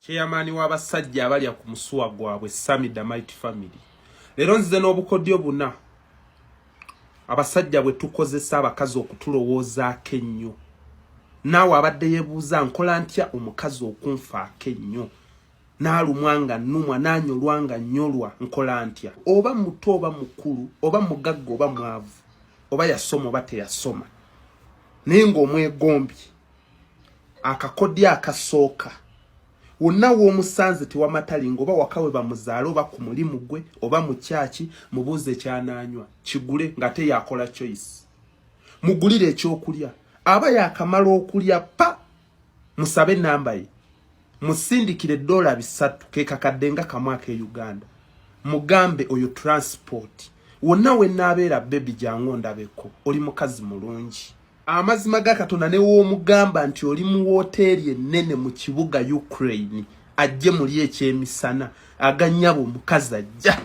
Chairman wa basajja abalya ku musuwa gwabwe Sami Damite family. Lero nzize n'obukodyo buna abasajja bwe tukozesa abakazi okutulowooza akennyo. Naawe abadde yebuuza nkola ntya omukazi okunfa akennyo. Naalumwa nga nnumwa, naanyolwa nga nnyolwa, nkola ntya? Oba muto oba mukulu, oba mugagga oba mwavu, oba yasoma oba teyasoma, naye ng'omwegombye. akakodyo akasooka wonna w'omusanze tewamatali nga oba wakawe bamuzaale oba ku mulimu gwe oba mu kyaki mubuuze ekyanaanywa kigule ng'ate yakola choice mugulire ekyokulya aba yakamala okulya pa musabe enamba ye musindikire dola bisatu kekakadde nga kamwaka e uganda mugambe oyo transport wonna wenaabeera bebi jangu ondabeko oli mukazi mulungi amazima ga katonda newoomugamba nti oli mu wooteeri ennene mu kibuga ukraine ajje muli ekyemisana aganyabo omukazi ajja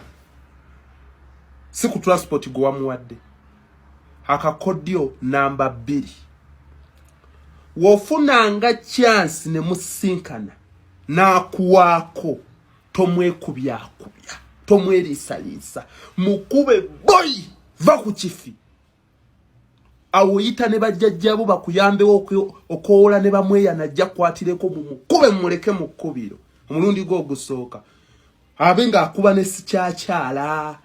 si ku transport gwe wamuwadde akakodyo namba bbiri wofunanga kyansi ne musinkana n'akuwaako tomwekubyakubya tomweriisaliisa mukube boyi va ku kifi awo yita ne bajjajjabo bakuyambewo okoola ne bamweya najja kwatireko mumukube mumuleke mu kkubiro omulundi gwe ogusooka abe ng'akuba ne sikyakyala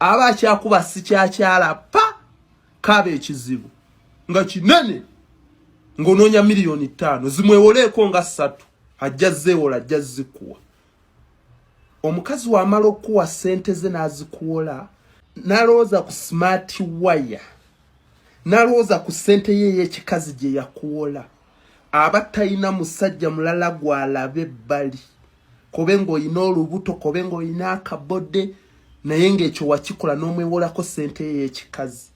aba akyakuba sikyakyala pa kaaba ekizibu nga kinene ng'onoonya miliyoni ttaano zimwewoleeko nga ssatu ajja zeewola ajja zikuwa omukazi wamala okuwa sente ze nazikuwola nalowooza ku smart wire nalowooza ku sente ye eyekikazi gye yakuwola aba talina musajja mulala gwalabe ebbali kobe ng'olina olubuto kobe ng'olina akabode naye ng'ekyo wakikola n'omwewolako sente ye eyekikazi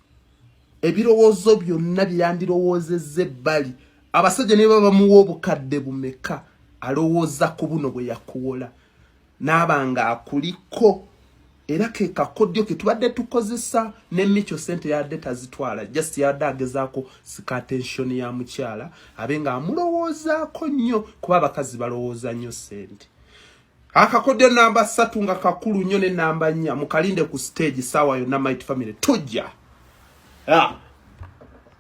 ebirowoozo byonna byandirowoozezza ebbali abasajja ne baba bamuwa obukadde bumeka alowooza ku buno bwe yakuwola n'aba ng'akuliko era ke kakodyo ke tubadde tukozesa ne micho sente yadde tazitwala just yadde agezaako sika attention ya mukyala abe ng'amulowoozaako nnyo kuba abakazi balowooza nnyo sente akakodyo namba satu nga kakulu nyo ne namba nya mukalinde ku stage sawa yo na might family tujja yeah.